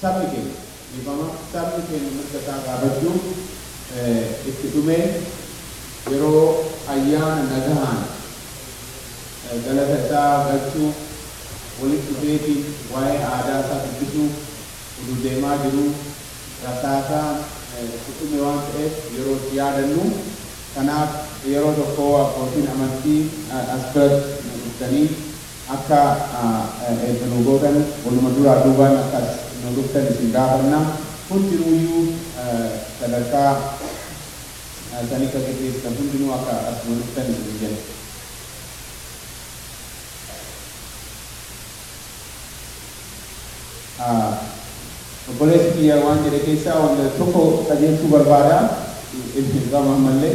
Sabni keenya, dhiifama, sabni keenya mirga isaa gaafachuun itti dhumee yeroo ayyaana nagahaan galata isaa galchuuf, walitti dhufeetiin waa'ee aadaa isaa dubbisuuf utuu deemaa jiruu rasaasaan itti dhume waan ta'eef yeroo itti yaadannu. Kanaaf yeroo tokko abbootiin amantii as biratti nu dhuftanii. Akka Eebba nuu gootan waluma duraa duubaan akka as nuu dhuftan isin gaafanna. Hundinuuyyuu sadarkaa sanicca geggeessitan hundinuu akka as nuu dhuftan isiniin jenna. Obboleessi kiyya waan jedhe keessaa wanta tokko qajeelchuu barbaada. Ibsa hin qabu ammallee.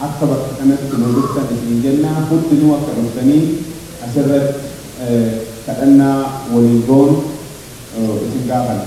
Akka bakka kanatti nuu dhuftan isin jenna. Hundinuu akka dhuftanii asirratti kadhannaa waliin goonu isin gaafanna.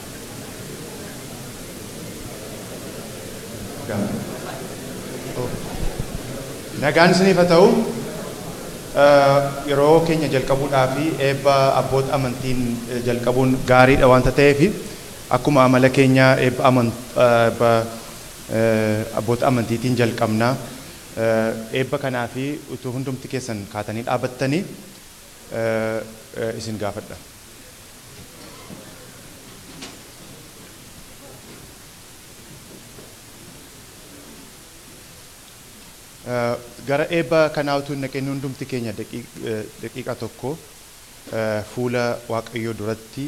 Nagaan isiniif haa ta'u. Yeroo keenya jalqabuudhaa fi eebba abboota amantiin jalqabuun gaariidha wanta ta'eef akkuma amala keenyaa eebba abboota amantiitiin jalqabna. Eebba kanaa fi utuu hundumti keessan kaatanii dhaabattanii isin gaafadha. Gara eebba kanaa utuu hin dhaqin hundumti keenya daqiiqaa tokko fuula Waaqayyoo duratti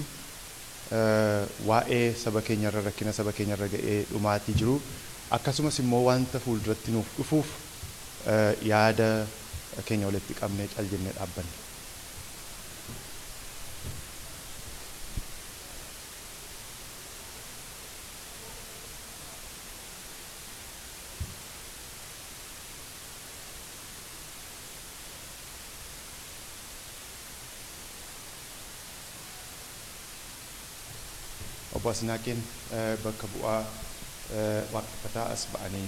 waa'ee saba keenya irra, rakkina saba keenya irra ga'ee dhumaatii jiru, akkasumas immoo wanta fuulduratti nuuf dhufuuf yaada keenya walitti qabnee cal jennee dhaabbanna. Obbo Asnaaqeen bakka bu'aa waaqeffataa as ba'anii.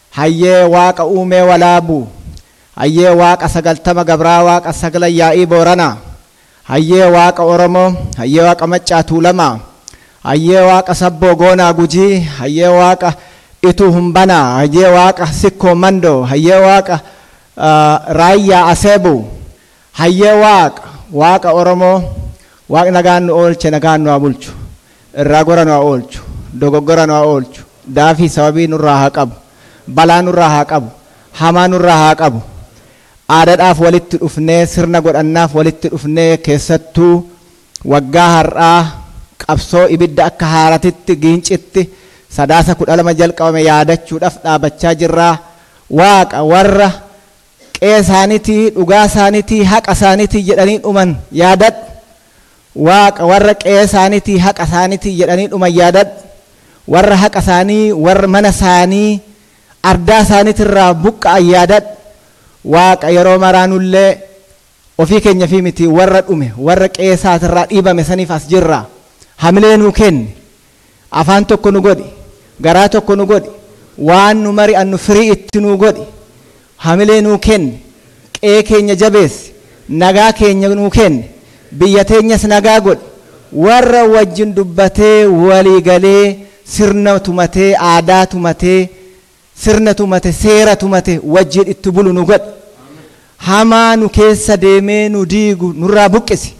Hayyee waaqa uumee walaabuu Hayyee waaqa sagaltama gabraa waaqa saglan yaa'ii booranaa Hayyee waaqa oromoo Hayyee waaqa maccaa tuulamaa Hayyee waaqa sabboo goonaa gujii Hayyee waaqa ituu humbanaa Hayyee waaqa sikkoo mandoo Hayyee waaqa raayyaa aseebuu Hayyee waaq waaqa oromoo waaq nagaan nu oolche nagaan nu haa bulchu irraa gora nu haa oolchu dogoggora nu haa oolchu daafii sababii nurraa haa qabu balaa nurraa haa qabu hamaa nurraa haa qabu aadadhaaf walitti dhufnee sirna godhannaaf walitti dhufnee keessattuu waggaa har'aa qabsoo ibidda akka haaratitti giincitti sadaasa 12 jalqabame yaadachuudhaf dhaabachaa jirraa waaqa warra qe'ee isaaniitii, dhugaa isaaniitii, haqa isaaniitii jedhanii dhuman yaadadhu. Waaqa warra qe'ee isaaniitii, haqa isaaniitii jedhanii dhuman yaadadhu. Warra haqa isaanii, warra mana isaanii, ardaa isaaniitii irraa buqqa'an yaadadhu. Waaqa yeroo maraa nullee ofii keenyafii miti warra dhume, warra qe'ee isaati irraa dhiibame saniif as jirra. Hamilee nuu kenni. Afaan tokko nu godhi, garaa tokko nu godhi, waan nu mari'annu firii itti nuu godhi, hamilee nuu kenni, qe'ee keenya jabeessi, nagaa keenya nuu kenni, biyya teenyas nagaa godhi, warra wajjin dubbatee, walii galee, sirna tumatee, aadaa tumatee, sirna tumate seera tumate wajjiin itti bulu nu godhi hamaa nu keessa deemee nu diigu nurraa buqqisi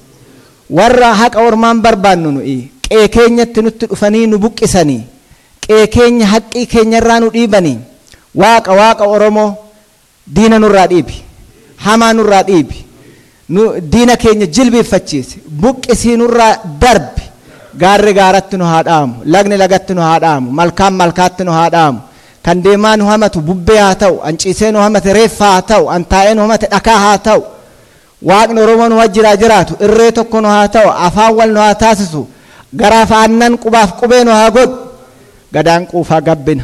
warra haqa ormaan barbaannu nuyi qee keenyatti nutti dhufanii nu buqqisanii qee keenya haqqii keenyarraa nu dhiibanii waaqa waaqa oromoo Diina nurraa dhiibi. Hamaa nurraa dhiibi. Nu diina keenya jilbiiffachiisi. Buqqisii nurraa darbi. Gaarri gaaratti nu haa dhaamu. Lagni lagatti nu haa dhaamu. Malkaan malkaatti nu haa dhaamu. Kan deemaa nu hamatu bubbee haa ta'u. An ciisee nu hamate reeffa haa ta'u. An taa'ee nu hamate dhakaa haa ta'u. Waaqni Oromoo nu wajjin haa jiraatu. Irree tokko nu haa ta'u. Afaan wal nu haa taasisu. Garaaf aannan, qubaaf qubee nu haa godhu. Gadaan quufaa gabbina.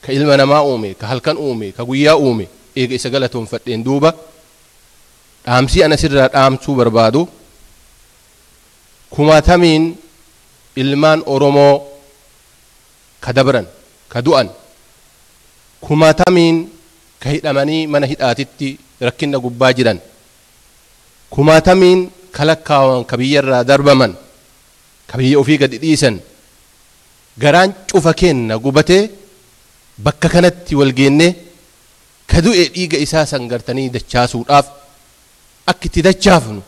Ka ilma namaa uume, ka halkan uume, ka guyyaa uume, eega isa galatoonfadheen duuba, dhaamsii an asirraa dhaamsuu barbaadu, kumaatamiin ilmaan Oromoo ka dabran, ka du'an, kumaatamiin ka hidhamanii mana hidhaatitti rakkinna gubbaa jiran, kumaatamiin ka lakkaawaman ka biyyarraa darbaman, ka biyya ufii gadi dhiisan, Garaan cufa keenna gubatee bakka kanatti wal geennee, ka du'e dhiiga isaa san gartanii dachaasuudhaaf, akka itti dachaafnu,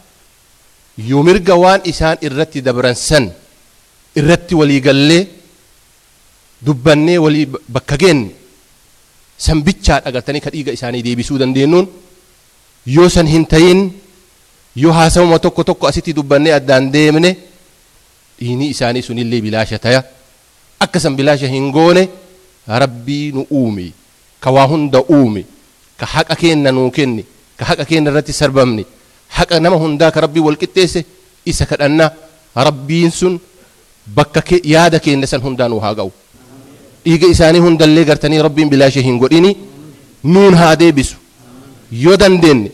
yoo mirga waan isaan irratti dabran san irratti walii gallee, dubbannee walii bakka geenne, san bichaa dha gartanii ka dhiiga isaanii deebisuu dandeennuun, yoo san hin tayin, yoo haasawuma tokko tokko asitti dubbannee addaan deemne, dhiinii isaanii sunillee bilaasha taya akka san bilaasha hin goone rabbii nu uume ka waa hunda uume ka haqa keenna nuu kenne ka haqa keenna irratti sarbamne haqa nama hundaa ka rabbii wal qixxeesse isa kadhanna rabbiin sun bakka ke- yaada keenna san hundaa nuu haa ga'u dhiiga isaanii hundallee gartanii rabbiin bilaasha hin godhini nuun haa deebisu yoo dandeenye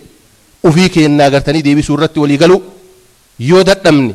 ufii keennaa gartanii deebisuu irratti walii galuu yoo dadhabne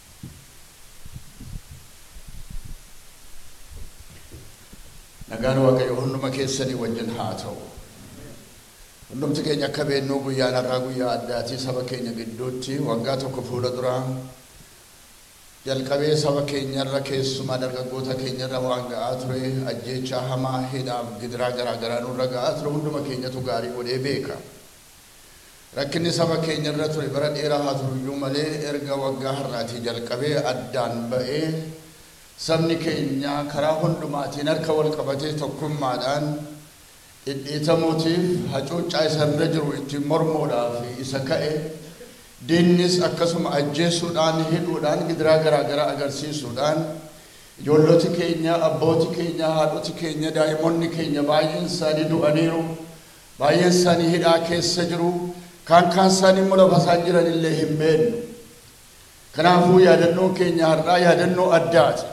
Nagaan Waaqayyoo hunduma keessanii wajjin haa ta'u. Hundumti keenya akka beeknu guyyaan har'aa guyyaa addaati. Saba keenya gidduutti waggaa tokko fuula dura jalqabee saba keenya irra keessumaa dargaggoota keenya irra waan ga'aa ture ajjeechaa hamaa, hidhaaf gidiraa garaa garaa nurra ga'aa ture hunduma keenyatu gaarii godhee beeka. Rakkinni saba keenya irra ture bara dheeraa haa turu iyyuu malee erga waggaa har'aatii jalqabee addaan ba'ee sabni keenya karaa hundumaatiin harka wal qabatee tokkummaadhaan dhidhiitamuutiif hacuuccaa isa irra jiru ittiin mormuudhaaf isa ka'e diinnis akkasuma ajjeesuudhaan hidhuudhaan gidiraa garaa garaa agarsiisuudhaan ijoolloti keenya abbooti keenya haadhoti keenya daa'imonni keenya baay'een isaanii du'aniiru Baay'een isaanii hidhaa keessa jiru, kaan kaan isaanii immoo lafa isaan jiran illee hin beeknu. Kanaafuu yaadannoon keenya har'aa yaadannoo addaati.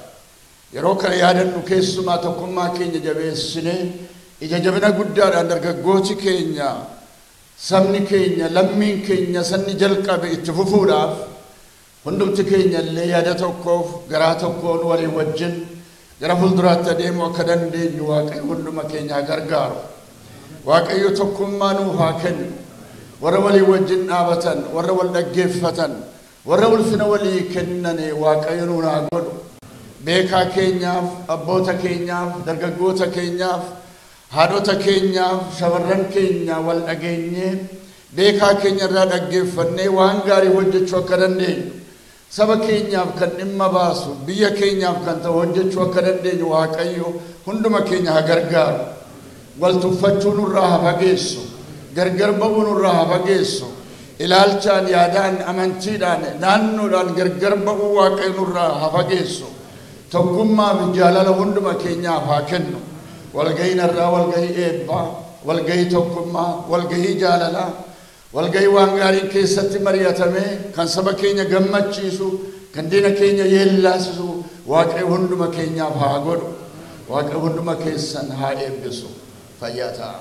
Yeroo kana yaadannu keessumaa tokkummaa keenya jabeessinee ija jabina guddaadhaan dargaggooti keenya, sabni keenya, lammiin keenya isa inni jalqabe itti fufuudhaaf Hundumti keenya illee yaada tokkoof garaa tokkoon walii wajjin gara fuulduraatti adeemuu akka dandeenyu Waaqayyo hunduma keenya haa gargaaru. Waaqayyo tokkummaa nuuf haa kennu. Warra walii wajjin dhaabatan, warra wal dhaggeeffatan, warra ulfina walii kennane Waaqayyo nuun haa godhu. Beekaa keenyaaf, abboota keenyaaf, dargaggoota keenyaaf, haadhota keenyaaf, shamarran keenya wal dhageenyee Beekaa keenya irraa dhaggeeffannee waan gaarii hojjechuu akka dandeenyu, saba keenyaaf kan dhimma baasu, biyya keenyaaf kan ta'u hojjechuu akka dandeenyu Waaqayyo hunduma keenya haa gargaaru. Wal tuffachuu nurraa haa fageessu. Gargar ba'uu nurraa haa fageessu. Ilaalchaan, yaadaan, amantiidhaan, naannoodhaan gargar ba'uu Waaqayyo nurraa haa fageessu. Tokkummaa fi jaalala hunduma keenyaaf haa kennu. Walgahiin har'aa walgahii eebbaa, walgahii tokkummaa, walgahii jaalalaa, walgahii waan gaariin keessatti mari'atamee, kan saba keenya gammachiisu, kan diina keenya yeellaasisu Waaqayyo hunduma keenyaaf haa godhu. Waaqayyo hunduma keessan haa eebbisu. Fayyaa ta'aa.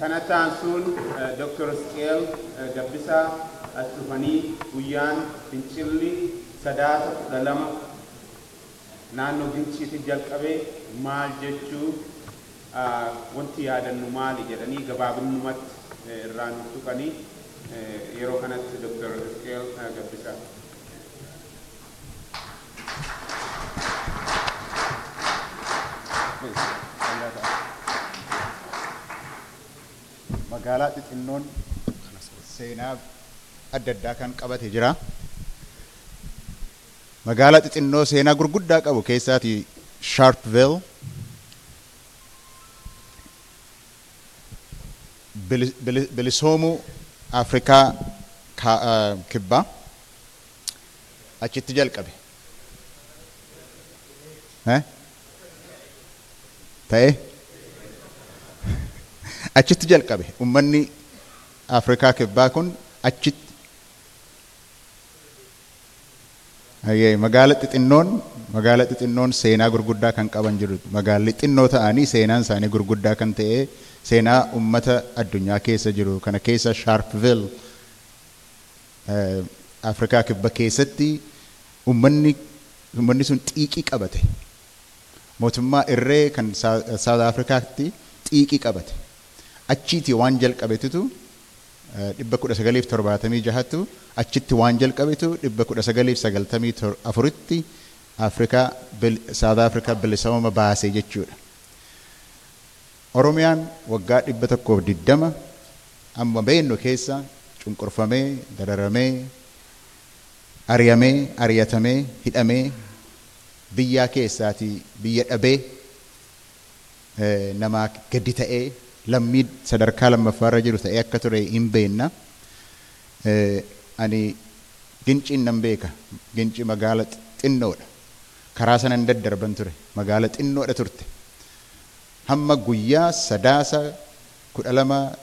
Kanatti aansuun Dr. Isqeel Gabbisaa as dhufanii guyyaan fincilli Sadaasa 12 naannoo Ginciitti jalqabe maal jechuu, wanti yaadannu maali jedhanii gabaabinnumatti irraa nuuf tuqanii yeroo kanatti Dr. Isqeel Gabbisaa. Magaalaa xixinnoon seenaa adda addaa kan qabate jira. Magaalaa xixinnoo seenaa gurguddaa qabu keessaati Sharpeville. Bili- bili- Bilisoomuu Afrikaa Ka- eh, Kibbaa. achitti jalqabe. Eh? Ta'ee? Achitti jalqabe. Ummanni Afrikaa kibbaa kun achitti Ayyee, magaala xixinnoon magaala xixinnoon seenaa gurguddaa kan qaban jiru magaalli xinnoo ta'anii seenaan isaanii gurguddaa kan ta'e seenaa ummata addunyaa keessa jiru kana keessa Sharpeville Afrikaa Kibba keessatti ummanni ummanni sun xiiqii qabate. Mootummaa irree kan South Africaatti xiiqii qabate. Achiiti waan jalqabetutu 1976ttu achitti waan jalqabetu 1994tti Afrikaa South Africa bilisooma baase jechuudha. Oromiyaan waggaa 120 amma beeknu keessa cunqurfamee, dararamee, ari'amee, ari'atamee, hidhamee, biyyaa keessaatii biyya dhabee, namaa gadi ta'ee, lammii sadarkaa lammaffaa irra jiru ta'ee akka ture hin beekna. Ani Ginciin nan beeka. Ginci magaala xinnoodha. Karaa sanan daddarban ture. Magaala xinnoodha turte. Hamma guyyaa Sadaasa 12,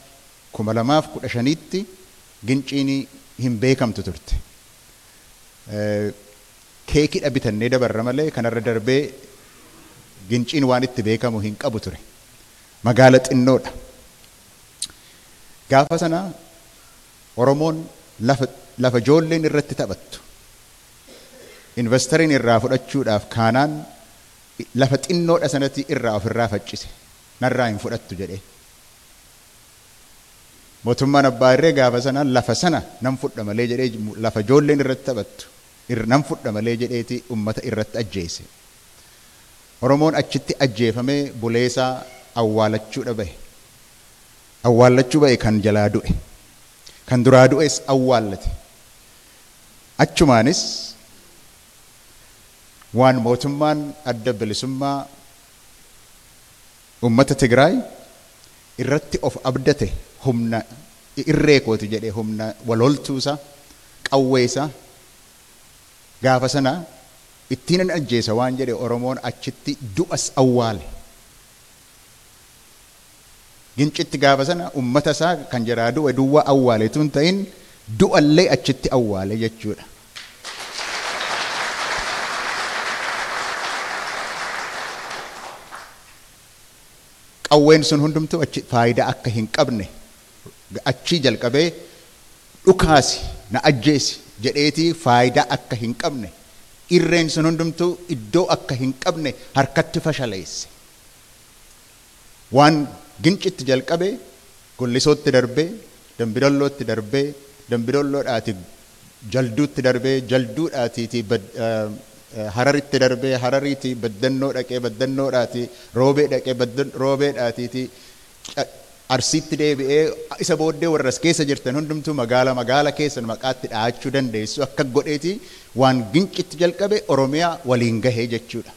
2015tti Ginciin hin beekamtu turte. Keekidha bitannee dabarra malee kanarra darbee Ginciin waan itti beekamu hin qabu ture. Magaala xinnoodha. Gaafa sana Oromoon lafa lafa ijoolleen irratti taphattu invastariin irraa fudhachuudhaaf kaanaan Lafa xinnoo dha sanatii irraa of irraa faccise, narraa hin fudhattu jedhee. Mootummaan abbaa irree gaafa sana lafa sana nan fudha malee jedhee lafa ijoolleen irratti taphattu nan fudha malee jedheeti ummata irratti ajjeese. Oromoon achitti ajjeefamee buleesaa awwaalachuu dha bahe. Awwaallachuu bahe kan jalaa du'e. Kan duraa du'es awwaallate. Achumaanis waan mootummaan Adda Bilisummaa Ummata Tigraay irratti of abdate humna irree kooti jedhe humna wal holtuu isaa, qawwee isaa gaafa sana ittiinan ajjeesa waan jedhe Oromoon achitti du'as awwaale. Gincitti gaafa sana ummata isaa kan jalaa du'e duwwaa awwaale utuu hin ta'in du'a illee achitti awwaale jechuu dha. Qawween sun hundumtuu achi faayidaa akka hin qabne achii jalqabee dhukaasi na ajjeesi jedheetii faayidaa akka hin qabne irreen sun hundumtuu iddoo akka hin qabne harkatti fashaleesse. Waan Gincitti jalqabe Gollisootti darbee, Dambidoollootti darbee, Dambidoolloodhaati Jalduutti darbee, Jalduudhaatiiti Hararitti darbee, Harariiti Baddannoo dhaqee, Baddannoodhaati Roobee dhaqee, Roobeedhaatiiti Arsiitti deebi'ee, isa booddee warri as keessa jirtan hundumtuu magaala magaala keessan maqaa itti dhahachuu dandeessu akka godheeti waan Gincitti jalqabe Oromiyaa waliin gahe jechuudha.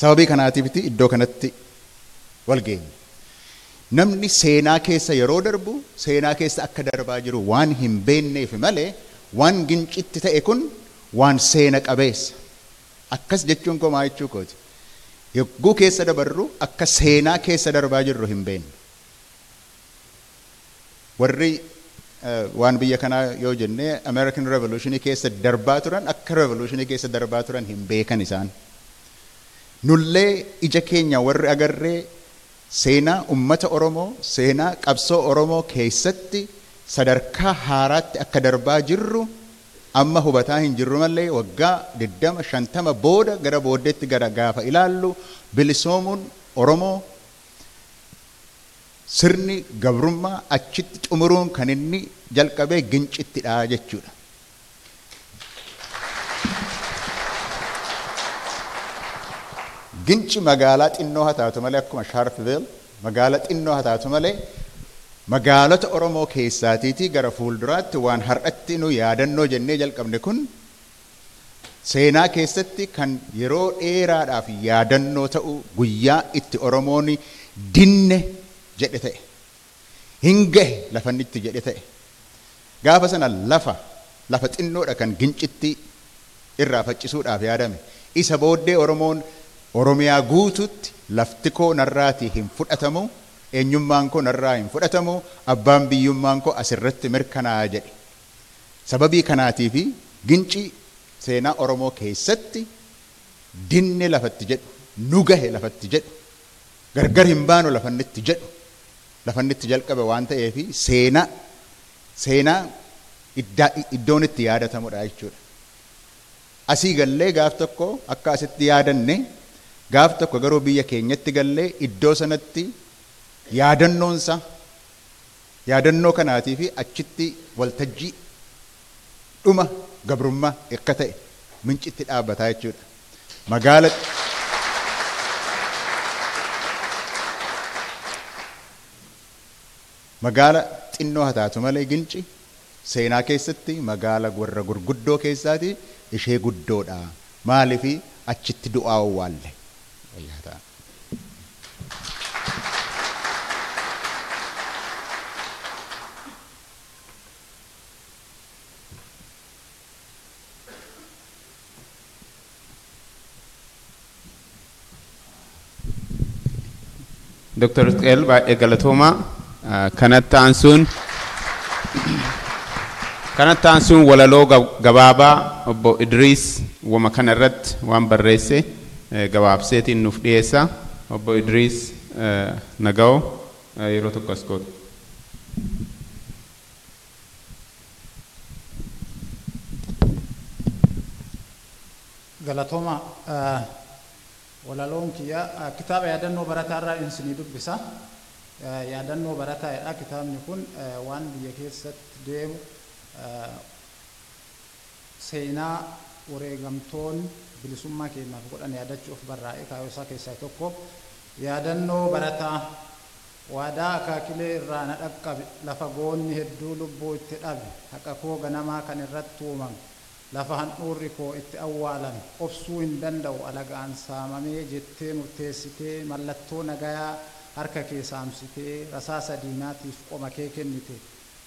Sababii kanaatiifiti iddoo kanatti wal geenye. Namni seenaa keessa yeroo darbu seenaa keessa akka darbaa jiru waan hin beenneefi malee waan Gincitti ta'e kun waan seena qabeessa. Akkas jechuun koo maa jechuu kooti? Yogguu keessa dabarru akka seenaa keessa darbaa jirru hin beennu. Warri waan biyya kanaa yoo jenne American Revolution keessa darbaa turan akka Revolution keessa darbaa turan hin beekan isaan. Nullee ija keenya warri agarree seenaa ummata Oromoo, seenaa qabsoo Oromoo keessatti sadarkaa haaraatti akka darbaa jirru amma hubataa hin jirru malee waggaa 20, 50 booda gara booddeetti gara gaafa ilaallu bilisoomuun Oromoo Sirni gabrummaa achitti xumuruun kan inni jalqabe Gincittidha jechuudha. Ginci magaalaa xinnoo haa taatu malee akkuma Sharpeville magaalaa xinnoo haa taatu malee magaalota Oromoo keessaatiitii gara fuulduraatti waan har'atti nu yaadannoo jennee jalqabne kun Seenaa keessatti kan yeroo dheeraadhaaf yaadannoo ta'u guyyaa itti Oromoon dinne jedhe ta'e. Hin gahe lafanni itti jedhe ta'e. Gaafa sana lafa lafa xinnoodha kan gincittii irraa faccisuudhaaf yaadame. Isa booddee Oromoon Oromiyaa guutuutti laftikoo narraatii hin fudhatamu, eenyummaankoo narraa hin fudhatamu, abbaan biyyummaankoo asirratti mirkanaa'a jedhe. Sababii kanaatiifi ginci seenaa Oromoo keessatti dinne lafa itti jedhu, nu gahe lafa itti jedhu, gargar hin baanu lafa inni itti jedhu lafa inni itti jalqabe waan ta'eefi seenaa seenaa iddaa iddoon itti yaadatamudha jechuudha. Asii gallee gaaf tokko akka asitti yaadanne gaaf tokko garuu biyya keenyatti gallee iddoo sanatti yaadannoonsaa, Yaadannoo kanaatii fi achitti waltajjii dhuma gabrummaa ekka ta'e Mincitti dhaabata jechuu dha. Magaala Magaala xinnoo haa taatu malee Ginci seenaa keessatti magaala warra gurguddoo keessaatii ishee guddoo dha. Maaliif achitti du'aa owwaalle. Dr. Isqeel baay'ee galatoomaa. Ah, Kanatti aansuun kanatti aansuun walaloo gab- gabaabaa obbo Idriis wama kana irratti waan barreesse gabaabseetiin nuuf dhiyeessa. Obbo Idriis Nagawo yeroo tokko as kootu. Galatoomaa. Walaloon kiyya kitaaba yaadannoo barataa irraa isinii dubbisa. Yaadannoo barataa jedha kitaabni kun waan biyya keessatti deemu Seenaa wareegamtoon bilisummaa keenyaaf godhan yaadachuuf barraa'e kaayoo isaa keessaa tokko yaadannoo barataa waadaa akaakilee irraa na dhaqqabe lafa goonni hedduu lubbuu itti dhabe haqa koo ganamaa kan irratti tuumame lafa handhuurri koo itti awwaalame obsuu hin danda'u alagaan saamamee jettee murteessitee mallattoo nagayaa harka kee saamsitee rasaasa diinaatiif qoma kee kennite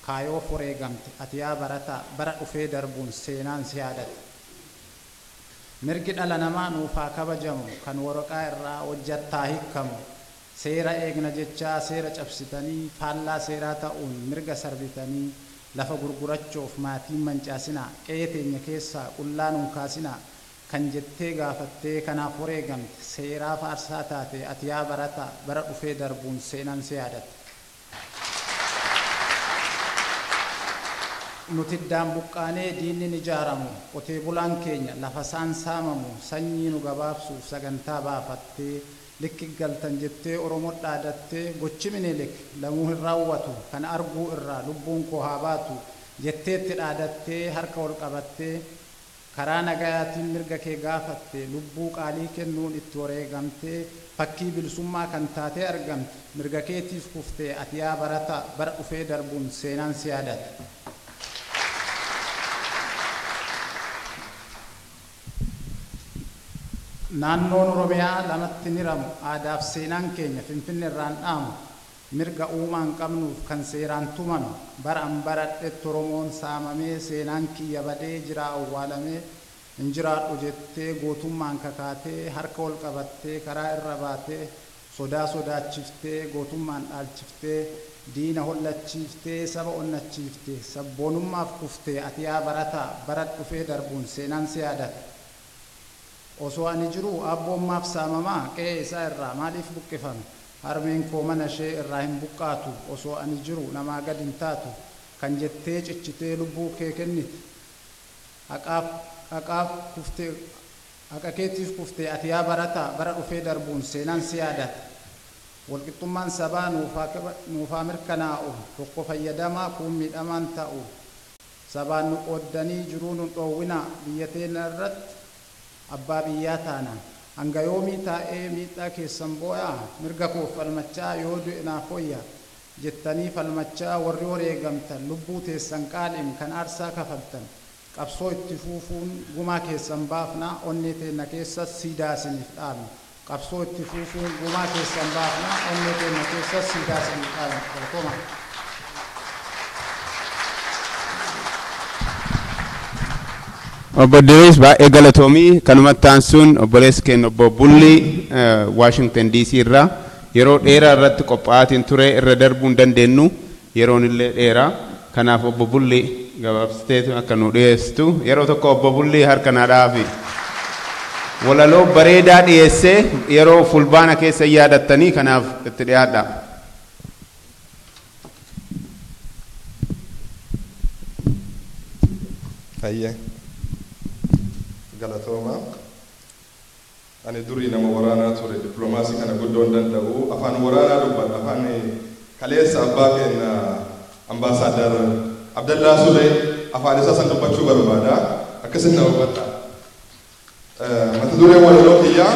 Kaayoof wareegamte ati yaa barataa bara dhufee darbuun seenaan si yaadata. Mirgi dhala namaa nuuf haa kabajamu kan waraqaa irraa hojjatta haa hikkamu. Seera eegna jechaa seera cabsitanii faallaa seeraa ta'uun mirga sarbitanii lafa gurgurachoof maatii hin mancaasinaa, qe'ee teenya keessaa qullaa nu hin kaasinaa kan jettee gaafattee kanaaf wareegamte seeraaf aarsaa taate ati yaa barataa bara dhufee darbuun seenaan si yaadata. Nuti iddaan buqqaanee diinni ni jaaramu, qotee bulaan keenya lafasaan saamamu sanyii nu gabaabsuuf sagantaa baafattee likki galtan jettee Oromo dhaadattee gochi Minilik lamuu hin raawwatu kana arguu irraa lubbuun koo haa baatu jetteetti dhaadattee harka ol qabattee Karaa nagayaatiin mirga kee gaafattee, lubbuu qaalii kennuun itti wareegamtee, fakkii bilisummaa kan taatee argamte, mirga keetiif kuftee ati yaa barataa, bara dhufee darbuun seenaan si yaadata. Naannoon Oromiyaa lamatti hin hiramu, aadaaf seenaan keenya Finfinnerraan dhaamu. Mirga uumaan qabnuuf kan seeraan tumame, baran baradhetti Oromoon saamamee, seenaan kiyya badee, jiraa awwaalamee, hin jiraadhu jettee, gootummaan kakaatee, harka ol qabattee, karaa irra baatee, sodaa sodaachiftee, gootummaan dhaalchiftee, diina hollachiiftee, saba onnachiifte, sabboonummaaf kufte, ati yaa barataa, bara dhufee darbuun seenaan si yaadata. Osoo ani jiruu Aabboon maaf saamama? Qe'ee isaa irraa maaliif buqqifame? Harmeen koo mana ishee irraa hin buqqaatu, osoo ani jiru namaa gad hin taatu kan jettee cichitee lubbuu kee kennite. Haqaaf, haqaaf kufte, haqa keetiif kufte ati yaa barataa, bara dhufee darbuun seenaan si yaadata. Walqixxummaan sabaa nuuf haa, nuuf haa mirkanaa'u, tokko fayyadamaa, kuun miidhamaan ta'u. Sabaan nu qooddanii jiruu nun dhoowwinaa, biyya teenya irratti abbaa biyyaa taana. Hanga yoomii taa'ee miidhaa keessan booyaa? Mirga koof falmachaa yoo du'e naaf woyya jettanii falmachaa warri wareegamtan lubbuu teessan qaaliin kan aarsaa kafaltan qabsoo itti fuufuun gumaa keessan baafnaa onnee teenya keessas siidaa isiniif dhaabna. Qabsoo itti fuufuun gumaa keessan baafna onnee teenna keessas siidaa isiniif dhaabna. Galatoomaa. Obbo Idiriis baay'ee galatoomii kanumatti aansuun obboleessi keenya obbo Bullii Waashington DC irraa yeroo dheeraa irratti qophaa'aatiin ture irra darbuu hin dandeenyu. Yeroonillee dheera. Kanaaf Obbo Bullii gabaabsiteetu akka nuu dhiyeessitu yeroo tokko Obbo Bullii harka naa dhahaafi. Walaloo bareedaa dhiyeesse yeroo Fulbaana keessa hin yaadattanii kanaaf itti dhiyaadhaa. Hayyee. Galatoomaa. Ani durii nama waraanaa ture diplomaasii kana guddoo hin danda'u afaan waraanaa dubbadha afaan kaleessa abbaa keenna Ambaasaadar Abdallaa Sulee afaan isaa san dubbachuu barbaada akkasitti na hubadha Mata dureen walaloo kiyyaa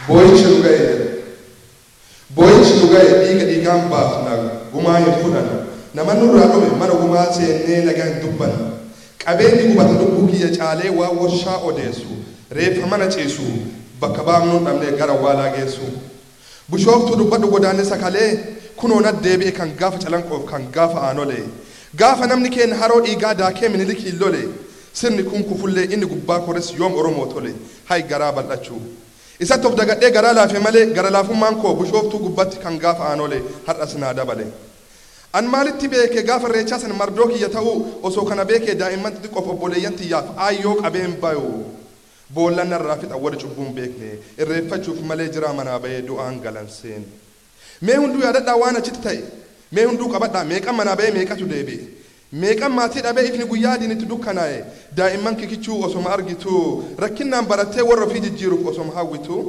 booyichi dhuga'e jedha Booyinsi nu gaye dhiiga dhiigaan baafna gumaa hin fudhanu Nama nurraa dhume mana gumaa seennee nagaa hin dubbanu Qabeenyi gubate lubbuu kiyya caalee waan warshaa odeessu Reeffa mana ciisu bakka baafnuun dhabnee gara awwaalaa geessu Bushooftuu dubbadhu godaanni sakalee kunoo nat deebi'e kan gaafa calanqoof kan gaafa aanolee Gaafa namni keenna haroo dhiigaa daakee minilikiin lole Sirni kun kufullee inni gubbaa kores yoom oromoo tole Hay garaa bal'achuu. Isatti of dagadhee garaa laafe malee gara laafummaan koo Bushooftuu gubbatti kan gaafa Aanole har'as naa dabale. An maalitti beeke gaafa Irreechaa san mardoo kiyya ta'uu osoo kana beekee daa'imman xixiqqoof obboleeyyan tiyyaaf aayyoo qabeen bayu boollan narraa fixan warri cubbuu hin beekne irreeffachuuf malee jiraa manaa bayee du'aan galan seen. Mee hunduu yaadadhaa waan achitti ta'e mee hunduu qabadhaa meeqan manaa bayee meeqatu deebi'e Meeqan maatii dhabee ifni guyyaa adiin itti dukkanaa'e daa'imman kikichuu osoma argituu rakkinnaan barattee warra ofii jijjiiruuf osoma hawwituu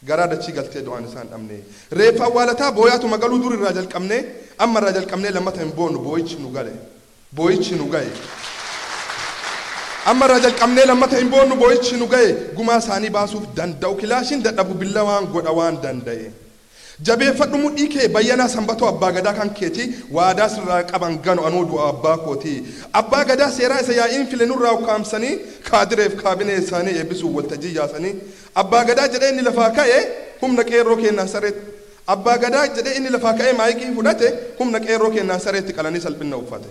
garaa dachii galtee du'aan isaan dhabnee reeffa awwaalataa booyaatuma galuu dur irraa jalqabnee amma irraa jalqabnee lammata hin boonnu booyichi nu gale booyichi nu ga'e amma irraa jalqabnee lammata hin boonnu booyichi nu ga'e gumaa isaanii baasuuf danda'u kilaashiin dadhabu billawaan godha waan danda'e. Jabeeffadhu mudhii kee Bayyanaa Sanbatoo Abbaa Gadaa kan keeti waadaa sirraa qaban ganu anoo du'aa abbaa kootii. Abbaa Gadaa seeraa isa yaa'iin file nurraa ukkaamsanii kaadireef kaabinee isaanii eebbisuuf waltajjii yaasanii Abbaa Gadaa jedhee inni lafaa ka'e humna qeerroo keennaan saree Abbaa Gadaa jedhee inni lafaa ka'ee maayikii fudhate humna qeerroo keennaan sareetti qalanii salphinna uffate.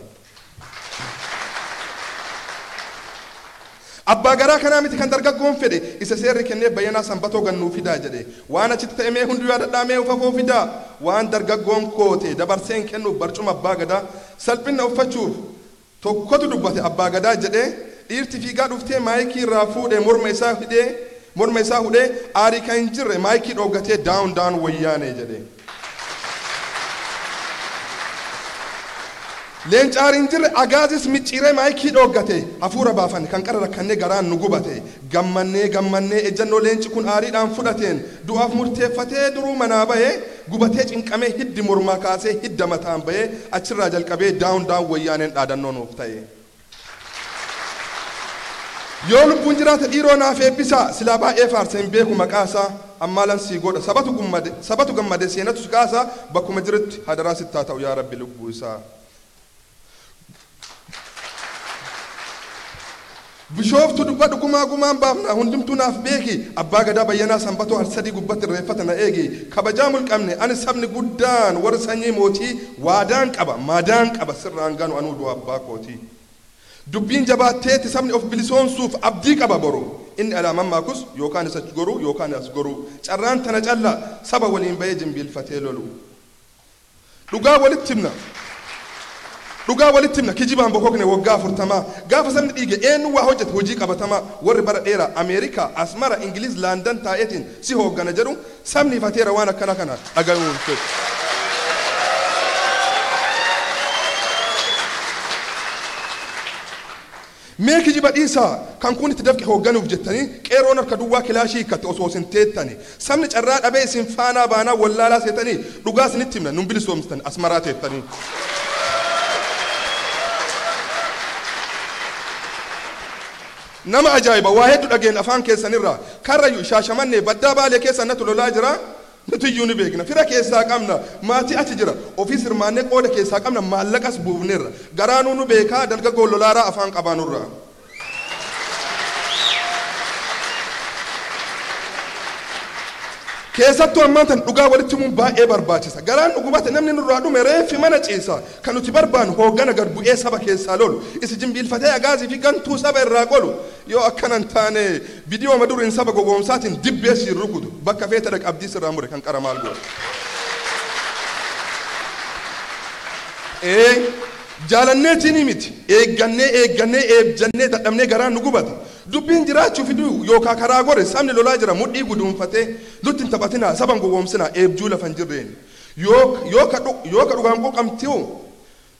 Abbaa garaa kanaa miti kan dargaggoon fedhe, isa seerri kennee Bayyanaa Sanbatoo gad nuu fidaa jedhe. Waan achitti ta'e mee hunduu yaadadhaa mee of afoo fidaa! Waan dargaggoon koote dabarseen kennuuf barcuma Abbaa Gadaa salphinna uffachuuf tokkotu dubbate Abbaa Gadaa jedhee dhiirti fiigaa dhuftee maayikii irraa fuudhee morma isaa hidhee morma isaa hudhee aarii kan hin jirre maayikii dhooggatee down down Wayyaanee jedhe. Leencaar hin jirre Agaazis micciiree maayikii dhooggate Hafuura baafanne kan qara rakkannee garaan nu gubate Gammannee gammannee ejjannoo leenci kun aariidhaan fudhateen Du'aaf murteeffatee duruu manaa bahe Gubatee cinqamee hiddi mormaa kaasee hidda mataan bahe Achirraa jalqabee down down Wayyaaneen dhaadannoo nuuf tahe. Yoo lubbuun jiraate dhiiroo naaf eebbisaa silaa baay'ee faarsa hin beeku maqaa isaa ammaalan sii godha sabatu gummade sabatu gammade seenatu si kaasa bakkuma jirutti hadaraa sitti haa ta'u yaa rabbi lubbuu isaa Bishooftu dubbadhu gumaa gumaan baafna hundumtuu naaf beeki abbaa gadaa bayyanaa sanbatoo harsadii gubbatti irreeffata na eegi kabajaa mulqamne ani sabni guddaan warri sanyii mootii Waadaan qaba maadaan qaba sirraan ganu anuu du'a abbaa kootii Dubbiin jabaatteetti sabni of bilisoomsuuf abdii qaba boru Inni alaa mammaakus yookaan is ach goruu yookaan as goruu Carraan tana calla saba waliin ba'ee jimbiilfatee lolu Dhugaa walitti himna Dhugaa walitti himna kijibaan bokokne waggaa afurtamaa Gaafa sabni dhiige eennu waa hojjete hojii qabatamaa Warri bara dheeraa Ameerikaa, Asmara, Ingiliiz, Landan taa'eetiin si hooggana jedhu Sabni ifateera waan akkana kana dhagayuu hin fedhu. Mee kijiba dhiisaa kan kuun itti dafqe hoogganuuf jettanii qeerroon harka duwwaa kilaashii hiikkatte osoo isin teettani sabni carraa dhabee isin faanaa baanaa wallaalaa seetanii dhugaa isinitti himna nun bilisoomstan asmaraa teettanii. Nama ajaa'iba waa heddu dhageenna afaan keessan irraa karrayyu shaashamannee baddaa baalee keessa natu lolaa jira nutiyyuu ni beekna fira keessaa qabna maatii achi jira ofiis hirmaannee qooda keessaa qabna maallaqas buufneerra garaanuu nu beekaa dargaggoon lolaaraa afaan qabaa nurraa keessattuu ammaan tana dhugaa walitti himuun baay'ee barbaachisa garaan nu gubate namni nurraa dhume reeffi mana ciisa Ka nuti barbaannu hooggana gad bu'ee saba keessaa lolu, isi jimbiilfatee agaazii fi gantuu saba irraa qolu. Yoo akkana hin taane bidiyooma duriin saba gogoomsaatiin dibbee siin rukutu. Bakka feete dhaqi abdii sirraa mure kan qara maal goota. Ee jaalanneetiinii miti eeggannee eeggannee eebjannee dadhabnee garaan nu gubate. Dubbiin jiraachuu fi du'u yookaa karaa gore sabni lolaa jira mudhii guduunfatee. Nutti hin taphatinaa saba hin gogoomsinaa eebjuu lafa hin jirreeni. Yoo, yoo ka dhu, yoo ka dhugaan quuqamtiu,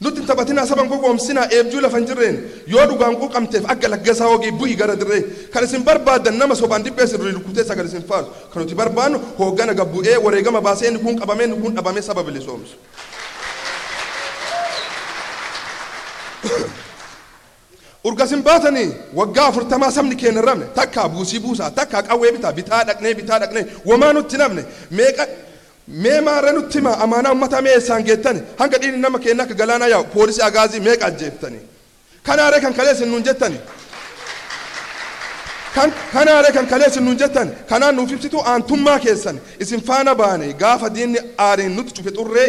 Nutti hin taphatinaa, saba hin gowwoomsinaa, eebjuu lafa hin jirreen, yoo dhugaan quuqamteef akka Laggasaa Wagii bu'i gara dirree. Kan isin barbaaddan nama sobaan dibbee isin rurrukutee sagal isin faarsu. Kan nuti barbaannu hooggana gad bu'ee, wareegama baasee inni kuun qabamee inni kuun dhabamee saba bilisoomsu. Urga isin baatanii waggaa afurtamaa sabni keenna hin rafne, takkaa buusii buusaa, takkaa qawwee bitaa bitaa dhaqnee bitaa dhaqnee womaa nutti hin hafne, meeqa Mee maarree nutti himaa amaanaa ummataa mee eessaan geettani? Hanga dhiigni nama keennaa akka galaanaa yaa'u poolisii agaazii meeqa ajjeeftanii? Kanaaree kan kalee isin nuun jettani? Kan kanaaree kan kalee isin nuun jettani? Kanaan nuuf ibsituu aantummaa keessani? Isin faana baanee gaafa diinni aariin nutti cufe xurree